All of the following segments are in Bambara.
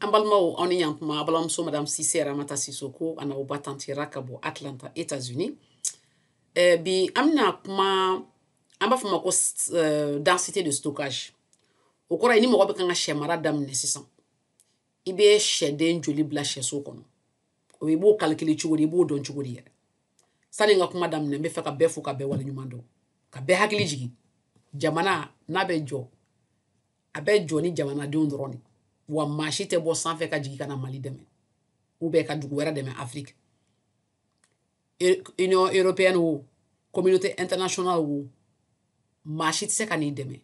an balimaw aw ni yantuma aw balimamuso madame sise ramata sisoko a n'aw ba tanti ra ka bɔ atlanta états unis eh, bi an bɛna kuma an b'a fɔ ma ko eh, densité de stockage o kɔrɔ ye ni mɔgɔ bɛ kan ka sɛ mara daminɛ sisan i bɛ sɛden joli bila sɛso kɔnɔ o i b'o kalikili cogo di i b'o dɔn cogo di yɛrɛ sani n ka kuma daminɛ n bɛ fɛ ka bɛɛ fo ka bɛɛ waleɲuman dɔn ka bɛɛ hakili jigin jamana n'a bɛ jɔ a bɛ jɔ ni jamanadenw dɔrɔn de wa maa si tɛ bɔ sanfɛ ka jigin ka na mali dɛmɛ ou bien ka dugu wɛrɛ dɛmɛ afiriki union européenne wo communauté internationale wo maa si tɛ se ka n'i dɛmɛ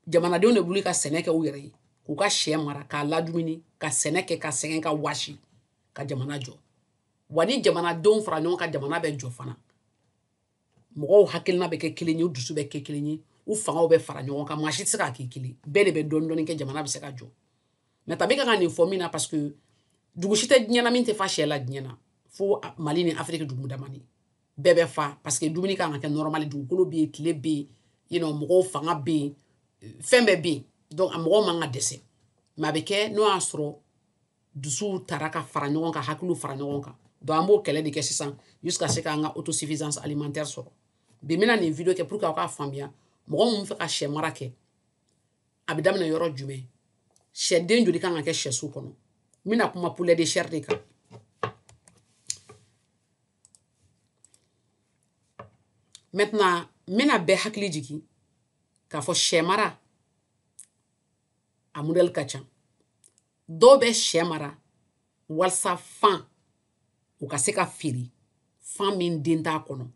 jamanadenw de bɛ wuli ka sɛnɛ kɛ u yɛrɛ ye k'u ka sɛ mara k'a ladumuni ka sɛnɛ kɛ ka sɛgɛn ka wasi ka jamana jɔ wa ni jamanadenw fara ɲɔgɔn kan jamana bɛ jɔ fana mɔgɔw hakilina bɛ kɛ kelen ye u dusu bɛ kɛ kelen ye u fangaw bɛ fara ɲɔgɔn kan maa si tɛ se k'a k'i kelen bɛɛ de bɛ dɔɔni dɔɔni kɛ jamana bɛ se ka jɔ mais tabi ka ka nin fɔ min na parce que dugu si tɛ diɲɛ na min tɛ fa sɛ la diɲɛ na fo mali ni afiriki dugu damani bɛɛ bɛ fa parce que dumuni kan ka kɛ nɔrɔmali dugukolo bɛ yen tile bɛ yen you know, mɔgɔw fanga bɛ yen fɛn bɛɛ bɛ yen donc a mɔgɔw man ka dɛsɛ mais a bɛ kɛ n'o y'a sɔrɔ dusuw tara ka fara ɲɔgɔn kan hakiliw fara ɲɔgɔn kan donc an b'o kɛlɛ de kɛ sisan jusqu'à ce k'an ka autosuffisance alimentaire sɔrɔ bi n bɛna nin video kɛ pour que aw k'a faamuya mɔgɔ min fɛ ka sɛ mara kɛ a bɛ daminɛ yɔrɔ jumɛn sɛden joli kan ka kɛ sɛso kɔnɔ n bɛna kuma poulet de chair de kan maintenant n bɛna bɛɛ hakili jigin k'a fɔ sɛ mara a modèle ka ca dɔw bɛ sɛ mara walasa fan u ka se ka feere fan min den t'a kɔnɔ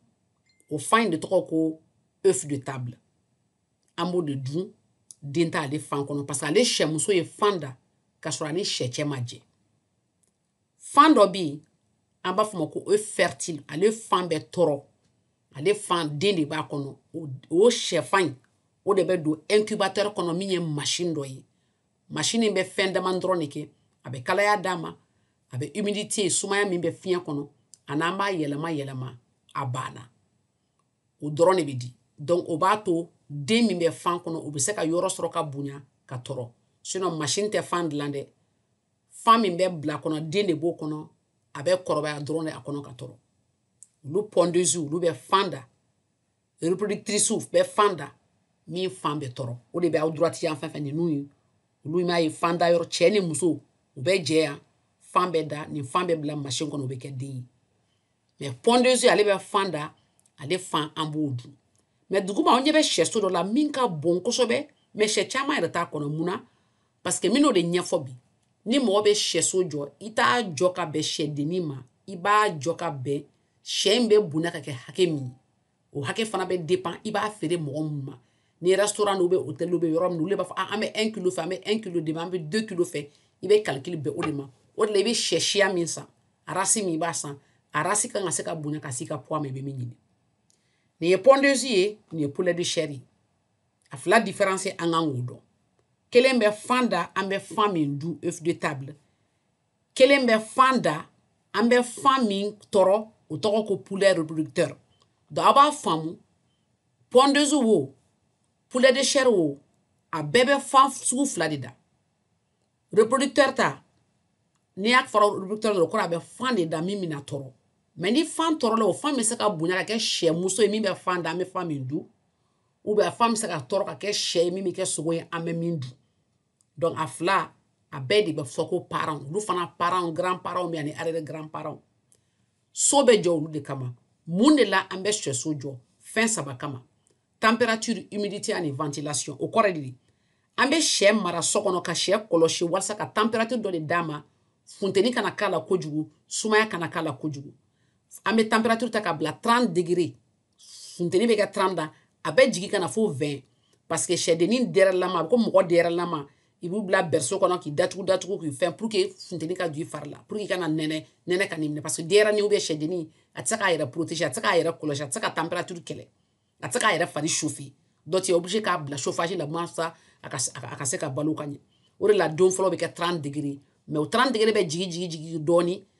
o fan in de tɔgɔ ko œuf de table an b'o de dun den t'ale fan kɔnɔ parce que ale sɛmuso ye fan da k'a sɔrɔ a ni sɛcɛ ma jɛ fan dɔ bɛ yen an b'a fɔ ma ko œuf fertile ale fan bɛ tɔrɔ ale fan den de b'a kɔnɔ o sɛfan in o de bɛ don incubateur kɔnɔ min ye machine dɔ ye machine bɛ fɛn dama dɔrɔn de kɛ a bɛ kalaya d'a ma a bɛ humidité sumaya min bɛ fiɲɛ kɔnɔ a n'an b'a yɛlɛma yɛlɛma a banna o dɔrɔn de bɛ di donc o b'a to den min bɛ fan kɔnɔ o bɛ se ka yɔrɔ sɔrɔ ka bonya ka tɔrɔ sinon machine tɛ fan dilan dɛ fan min bɛ bil'a kɔnɔ den de b'o kɔnɔ a bɛ kɔrɔbaya dɔrɔn de a kɔnɔ ka tɔrɔ olu pondeuse olu bɛ fan da reproductrice bɛ fan da min fan bɛ tɔrɔ o de bɛ aw droite yan fɛn fɛn ninnu ye olu m'a ye fan da yɔrɔ cɛ ni muso u bɛ jɛ yan fan bɛ da nin fan bɛ bila machine kɔnɔ o bɛ kɛ den ye mais pondeuse ale bɛ fan da ale fan an b'o dun mais duguma aw ɲɛ bɛ sɛso dɔ la min ka bon kosɛbɛ mais sɛ caman yɛrɛ t'a kɔnɔ mun na parce que min n'o de ɲɛfɔ bi ni mɔgɔ bɛ sɛso jɔ i t'a jɔ ka bɛn sɛdennin ma i b'a jɔ ka bɛn sɛ in bɛ bonya ka kɛ hakɛ min ye o hakɛ fana bɛ dépend i b'a feere mɔgɔ minnu ma ni restaurant ou bien hôtel bɛ yɔrɔ min olu b'a fɔ ah, an bɛ 1 kilo fɛ an bɛ 1 kilo demi an bɛ 2 kilo fɛ i bɛ calcul bɛn o de ma o de la i bɛ sɛ siya min san race min i b'a san a race kan ka se ka bonya ka se i ka poids ma i bɛ min ɲini nin ye pondeuse ye nin ye poulet de chair ye a fila différence an kan k'o dɔn kelen bɛ fan da an bɛ fan min dun œuf de table kelen bɛ fan da an bɛ fan min tɔrɔ o tɔgɔ ko poulet reproducteur donc a b'a faamu pondeuse wo poulet de chair wo a bɛɛ bɛ fan sugu fila de da reproducteur ta n'i y'a fɔ reproducteur dɔrɔn kɔrɔ a bɛ fan de da min bɛna tɔrɔ mais ni fan tɔrɔla o fan bɛ se ka bonya ka kɛ sɛ muso ye min bɛ fan da an bɛ fan min dun ou bien a fan bɛ se ka tɔrɔ ka kɛ sɛ ye min bɛ kɛ sogo ye an bɛ min dun donc a fila a bɛɛ de bɛ fɔ ko parents olu fana parents grand parents bɛ ani arrière grand parents so bɛ jɔ olu de kama mun de la an bɛ sɛso jɔ fɛn saba kama température humidité ani ventilation o kɔrɔ de an bɛ sɛ mara so kɔnɔ ka sɛ kɔlɔsi walasa ka température dɔ de d'a ma funteni kana k'a la kojugu sumaya kana k'a la kojugu an bɛ température ta ka bila 30 degré funteni bɛ kɛ 30 da a bɛ jigin ka na fo 20 parce que sɛdennin dɛrɛlama a bɛ ko mɔgɔ dɛrɛlama i b'u bila berceau kɔnɔ k'i datugu datugu k'i fɛn pour que funteni ka don i fari la pour que i kana nɛnɛ nɛnɛ kan'i minɛ parce que denyɛrɛnin ou bien sɛdennin a tɛ se k'a yɛrɛ protéger a tɛ se k'a yɛrɛ kɔlɔsi a tɛ se ka température kɛlɛ a tɛ se k'a yɛrɛ fari chauffer donc tu es obligé k'a bila chauffage la walasa a ka a ka se ka balo ka ɲɛ o de la don fɔlɔ bɛ kɛ 30 degré mais o 30 degré bɛ jigin jigin jigin dɔɔni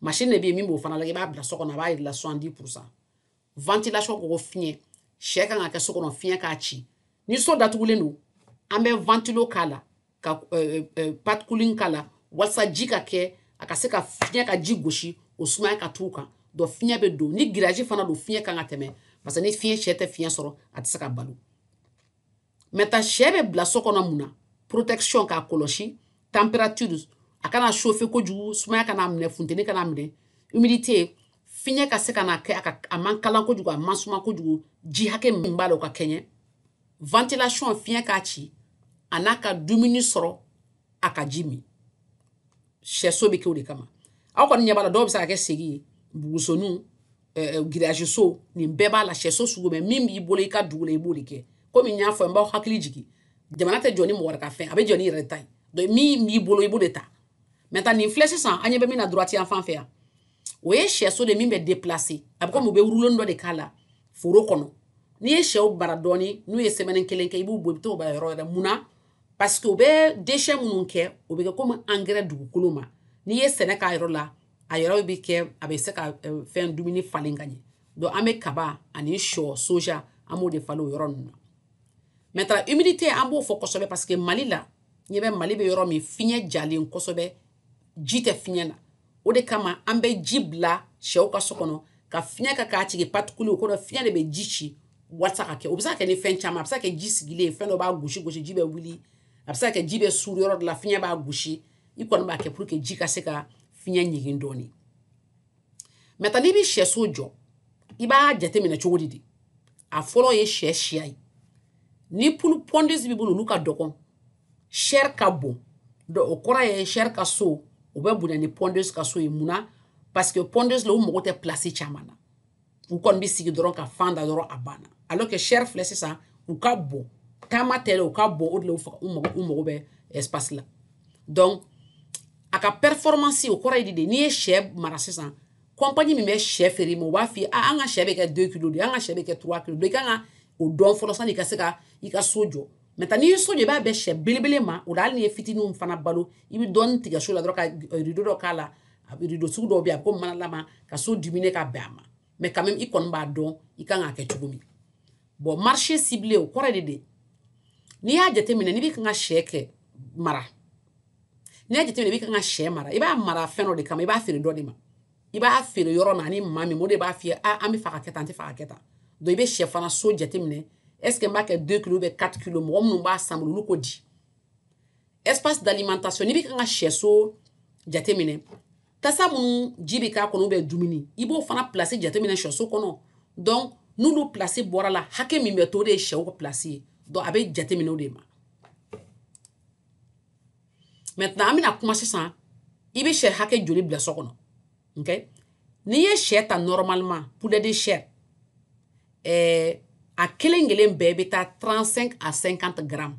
machine de bɛ yen min b'o fana lajɛ i b'a bila so kɔnɔ a b'a jira soixante-dix pour cent ventilation ko ko fiɲɛ sɛ kan ka kɛ so kɔnɔ fiɲɛ k'a ci ni so datugulen don an bɛ ventilo k'a la ka euh, euh, pad cooling k'a la walasa ji ka kɛ a ka se ka fiɲɛ ka ji gosi o sumaya ka t'u kan donc fiɲɛ bɛ don ni grillage fana don fiɲɛ kan ka tɛmɛ parce que ni fiɲɛ sɛ tɛ fiɲɛ sɔrɔ a tɛ se ka balo maintenant sɛ bɛ bila so kɔnɔ mun na protection k'a kɔlɔsi température a kana chauffer kojugu sumaya kan'a minɛ funteni kan'a minɛ humidité fiɲɛ ka se ka na kɛ a ka a man kalan kojugu a man suma kojugu ji hakɛ min b'a la o ka kɛɲɛ ventilation fiɲɛ k'a ci a n'a ka dumuni sɔrɔ a ka ji min sɛso bɛ kɛ o de kama aw kɔni ɲɛ b'a la dɔw bɛ se ka kɛ segi ye bugusoniw grillage so nin bɛɛ b'a la sɛso sugu bɛɛ min b'i bolo i ka dugu la i b'o de kɛ komi n y'a fɔ n b'aw hakili jigin jamana tɛ jɔ ni mɔgɔ wɛrɛ ka fɛn a bɛ jɔ n'i yɛrɛ ta ye donc min b'i bolo i b'o de ta maintenant nin filɛ sisan an ɲɛ bɛ min na droite yan fan fɛ yan o ye sɛso de min bɛ déplacer a bɛ komi u bɛ wuruloni dɔ de k'a la foro kɔnɔ n'i ye sɛw bila dɔɔni n'u ye semaine kelen kɛ i b'u bɔ i bɛ t'o bila yɔrɔ wɛrɛ mun na parce que u bɛ déchet minnu kɛ o bɛ kɛ komi engrais dugukolo ma n'i ye sɛnɛ k'a yɔrɔ la a yɔrɔ bɛ kɛ a bɛ se ka fɛn dumuni falen ka ɲɛ donc an bɛ kaba ani shɔ soja an b'o de falen o yɔrɔ ninnu na maintenant humidité an b'o fɔ kosɛbɛ parce que mali la ɲɛ bɛ mali bɛ yɔrɔ min fiɲɛ jalen kosɛbɛ ji tɛ fiɲɛ na o de kama an bɛ ji bila shɛw ka so kɔnɔ ka fiɲɛ kɛ k'a tigɛ particule o kɔrɔ fiɲɛ de bɛ ji ci walasa ka kɛ o bɛ se ka kɛ ni fɛn caman a bɛ se ka kɛ ji sigilen fɛn dɔ b'a gosi gosi ji bɛ wuli a bɛ se ka kɛ ji bɛ suuru yɔrɔ dɔ la fiɲɛ b'a gosi i kɔni b'a kɛ pour que ji ka se ka fiɲɛ ɲigin dɔɔni maintenant n'i bɛ sɛso jɔ i b'a jateminɛ cogo di de a fɔlɔ ye sɛ siya ye ni poule pondeuse b'i bolo olu ka dɔgɔn chair ka bon donc o kɔrɔ ye chair ka so o bɛ bonya ni pondeuse ka so ye mun na parce que pondeuse la u mago tɛ place caman na u kɔni bɛ sigi dɔrɔn ka fan da dɔrɔn a banna alors que chair filɛ sisan u ka bon taama tɛ dɛ u ka bon o de la u faga u mago u mago bɛ espace la donc a ka performance o kɔrɔ ye di de n'i ye sɛ mara sisan compagnie min bɛ sɛ feere ma u b'a f'i ye an ka sɛ bɛ kɛ 2 kilo de an ka sɛ bɛ kɛ 3 kilo de i kan ka o dɔn fɔlɔ sani i ka se ka i ka so jɔ maintenant n'i ye so jɔ i b'a bɛn sɛ belebele ma o la hali n'i ye fitininw fana balo i bɛ dɔɔni tigɛ so la dɔrɔn ka rideau dɔ k'a la rideau sugu dɔw bɛ yen a bɛ komi manalama ka so diminuer ka bɛn a ma mais quand même i kɔni b'a dɔn i kan k'a kɛ cogo min bon marché ciblé o kɔrɔ de de n'i y'a jateminɛ n'i bɛ kan ka shɛ kɛ mara n'i y'a jateminɛ i bɛ kan ka shɛ mara i b'a mara fɛn dɔ de kama i b'a feere dɔ de ma i b'a feere yɔrɔ min ani maa min o de b'a f'i ye an bɛ fɛ ka kɛ tan an tɛ fɛ ka kɛ tan donc i bɛ shɛ fana so jateminɛ est-ce que n b'a kɛ 2 kilo ou bien 4 kilo mɔgɔ minnu b'a san bolo olu ko di espace d'alimentation n'i bɛ kan ka sɛso jateminɛ tasa minnu ji bɛ k'a kɔnɔ ou bien dumuni i b'o fana place jateminɛ sɛso kɔnɔ donc n'olu place bɔr'a la hakɛ min bɛ to o de ye sɛw ka place ye donc a bɛ jateminɛ o de ma maintenant an bɛna kuma sisan i bɛ sɛ hakɛ joli bila so kɔnɔ ok n'i ye sɛ ta normalement poulet de chair ɛɛ eh, a kelen kelen bɛɛ bɛ taa 35 à 50 grammes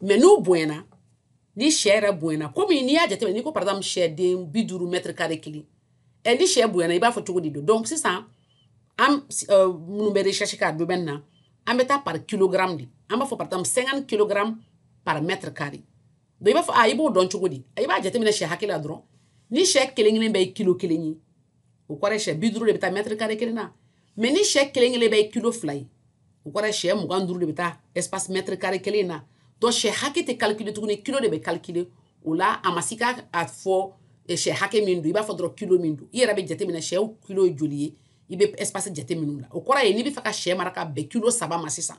mais n'u bonyana ni sɛ yɛrɛ bonyana komi n'i y'a jateminɛ n'i ko par exemple sɛden bi duuru mètre carré kelen ɛ ni sɛ bonyana i b'a fɔ cogo di don donc sisan an euh, minnu bɛ recherche k'a domaine na an bɛ taa par kilogramme de an b'a fɔ par exemple 50 kilogramme par mètre carré donc i b'a fɔ a i b'o dɔn cogo di i b'a jateminɛ sɛ hakɛ la dɔrɔn ni sɛ kelen kelen bɛɛ ye kilo kelen ye o kɔrɔ ye sɛ bi duuru de bɛ taa mètre carré kelen na mais ni sɛ kelen kelen bɛɛ ye kilo fila ye o kɔrɔ sɛ mugan duuru de bɛ taa espace mètre carré kelen na donc sɛ hakɛ tɛ calculer tuguni kilo de bɛ calculer o la a ma se ka a fɔ sɛ hakɛ min don i b'a fɔ dɔrɔn kilo min don i yɛrɛ bɛ jateminɛ sɛ kilo ye joli ye i bɛ espace jateminɛ o la o kɔrɔ ye n'i bɛ fɛ ka sɛ mara ka bɛn kilo saba ma sisan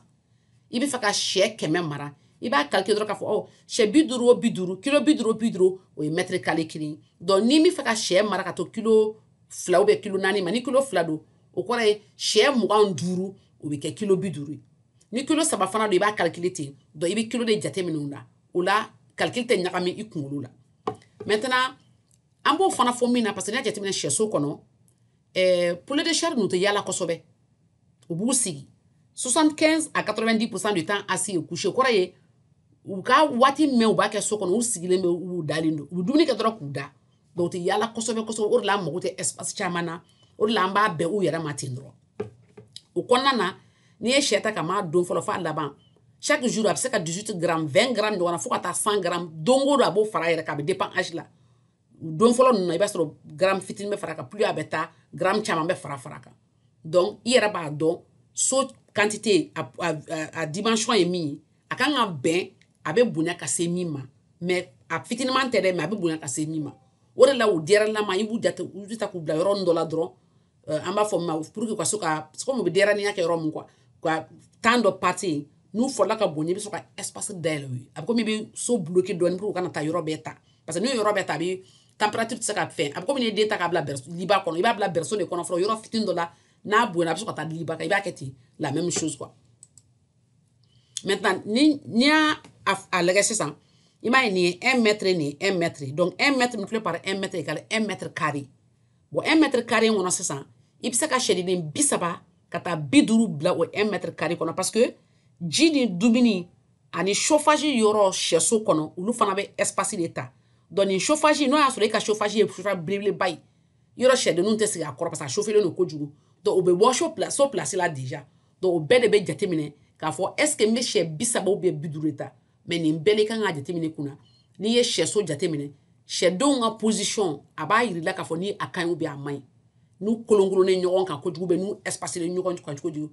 i bɛ fɛ ka sɛ kɛmɛ mara i b'a calculer dɔrɔn k'a fɔ ɔ sɛ bi duuru o bi duuru kilo bi duuru bi duuru o ye mètre carré kelen donc n'i bɛ fɛ ka sɛ mara ka to kilo fila ou bien kilo naani ma ni kilo fila don o kɔrɔ ye sɛ mugan duuru o bɛ kɛ kilo bi duuru ye ni kilo saba fana don i b'a calculer ten donc i bɛ kilo de jateminɛ o la calcul tɛ ɲagami i kunkolo la maintenant an b'o fana fɔ mun na parce que n'i y'a jateminɛ sɛso kɔnɔ eh, poulet de chair ninnu tɛ yala kosɛbɛ u b'u sigi 75 à 90 pourcent du temps assis et couché kɔrɔ ye u ka waati mɛn u b'a kɛ so kɔnɔ u sigilen bɛ u dalen don u bɛ dumuni kɛ dɔrɔn k'u da donc u tɛ yala kosɛbɛ kosɛbɛ o de la an mago tɛ espace caman na o de la an b'a bɛn u yɛrɛ ma ten dɔrɔn o kɔnɔna na n'i ye sɛ ta ka b'a don fɔlɔ f'a laban chaque jour a bɛ se ka 18 gramme 20 gramme ɲɔgɔn na fo ka taa 100 gramme don o don a b'o fara a yɛrɛ kan a bɛ dépend âge la don fɔlɔ ninnu na i b'a sɔrɔ gramme fitinin bɛ fara kan plus a bɛ taa gramme caman bɛ fara fara kan donc i yɛrɛ b'a dɔn so quantité a, a, a, a dimension ye min ye a kan ka bɛn a bɛ bonya ka se min ma mais a fitiniman tɛ dɛ mais a bɛ bonya ka se min ma o de la o denyɛrɛlama i b'u jate u ta k'u bila yɔrɔ dɔ la dɔrɔn eh, an b'a fɔ min ma pour que u ka so ka comme u bɛ denyɛrɛninya kɛ yɔrɔ min quoi ka temps dɔ passer yen n'u fɔla ka bonya i bɛ sɔrɔ ka espace dayɛlɛ u ye a bɛ komi i bɛ so bloqué dɔɔni pour que u kana taa yɔrɔ bɛɛ ta parce que n'u ye yɔrɔ bɛɛ ta a bɛ température tɛ se ka fɛn a bɛ komi n'i ye den ta k'a bila berceau liba kɔnɔ i b'a bila berceau de kɔnɔ fɔlɔ yɔrɔ fitini dɔ la n'a bonyana a bɛ sɔrɔ ka taa liba kan i b'a kɛ ten la même chose quoi maintenant ni n'i y'a lagɛ sisan i m'a ye nin ye un mètre nin ye un mètre donc un mètre multiplié par un mètre égale un mètre carré bon un mètre carré kɔnɔ sisan i bɛ se ka sɛdennin bi saba ka taa bi duuru bila o un mètre carré kɔnɔ parce que ji ni dumuni ani chauffage yɔrɔ sɛso kɔnɔ olu fana bɛ espace de ta donc ni chauffage n'o y'a sɔrɔ e ka chauffage ye chauffage belebeleba ye yɔrɔ sɛdenninw tɛ sigi a kɔrɔ parce que a chauffelen don kojugu donc o bɛ bɔ so place so place la déjà donc o bɛɛ de bɛ jateminɛ k'a fɔ est ce que n bɛ sɛ bi saba ou bien bi duuru de ta mais nin bɛɛ de kan ka jateminɛ kunna n'i ye sɛso jateminɛ sɛdenw ka position a b'a jir'i la k'a fɔ ni a ka ɲi ou bien a man ɲi n'u kolonkolonnen ɲɔgɔn kan kojugu ou bien n'u espacelen ɲɔgɔn kan kojugu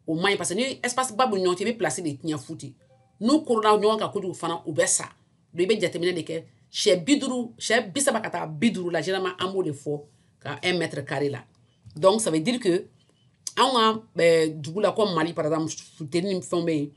o man ɲi parce que ni espace ba b'u ni ɲɔgɔn cɛ i bɛ place de tiɲɛ fu ten n'u kolola ɲɔgɔn kan kojugu fana u bɛ sa donc i bɛ jateminɛ de kɛ sɛ bi duuru sɛ bi saba ka taa bi duuru la généralement an b'o de fɔ ka un mètre carré la donc ça veut dire que anw ka dugu la comme mali par exemple funteni ni fɛnw bɛ yen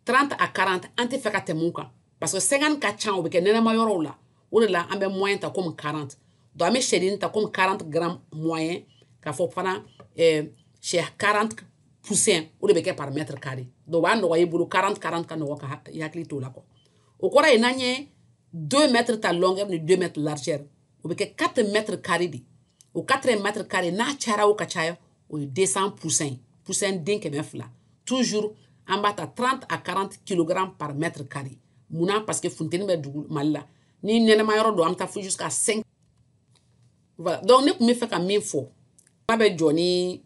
30 à 40 an tɛ fɛ ka tɛmɛ o kan parce que 50 ka ca o bɛ kɛ nɛnɛma yɔrɔw la o de la an bɛ moyen ta comme 40 donc an bɛ sɛden ta comme 40 grammes moyen k'a fɔ fana eh, sɛ 40 poussin o de bɛ kɛ par mètre carré donc o b'a nɔgɔya i bolo 40 40 ka nɔgɔ ka i hakili t'o la quoi o kɔrɔ ye n'an ye 2 mètres ta longueur ni 2 mètres largeur o bɛ kɛ 4 mètres carré de o 4 mètres carré n'a cayara o ka caya o ye deux cents poussins ye poussin den kɛmɛ fila toujours an b'a ta 30 à 40 kg par mètre carré munna parce que funteni bɛ dugu mali la ni nɛnɛma yɔrɔ don an bɛ taa fo jusqu'à 5 voilà donc ne tun bɛ fɛ ka min fɔ n'a bɛ jɔ ni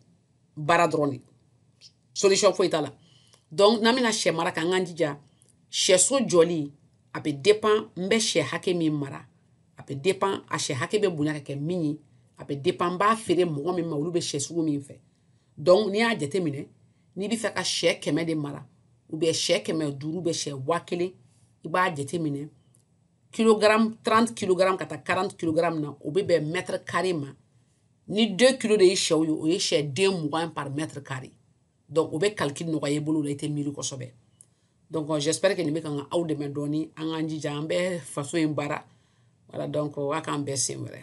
baara dɔrɔn de solution foyi t'a la donc n'an bɛna sɛ mara k'an k'an jija sɛso jɔli a bɛ dépend n bɛ sɛ hakɛ min mara a bɛ dépend a sɛ hakɛ bɛ bonya ka kɛ min ye a bɛ dépend n b'a feere mɔgɔ min ma olu bɛ sɛ sugu min fɛ donc n'i y'a jateminɛ n'i bɛ fɛ ka sɛ kɛmɛ de mara ou bien sɛ kɛmɛ duuru ou bien sɛ waa kelen i b'a jateminɛ kilogramme 30 kilogramme ka taa 40 kilogramme na o bɛ bɛn mètre carré ma ni 2 kilo de ye sɛw ye o ye sɛ den mugan par mètre carré donc o bɛ calcul nɔgɔya i bolo la i tɛ miiri kosɛbɛ donc j'espère que nin bɛ ka na aw dɛmɛ dɔɔni an k'an jija an bɛ faso in baara voilà donc a k'an bɛn siɲɛ wɛrɛ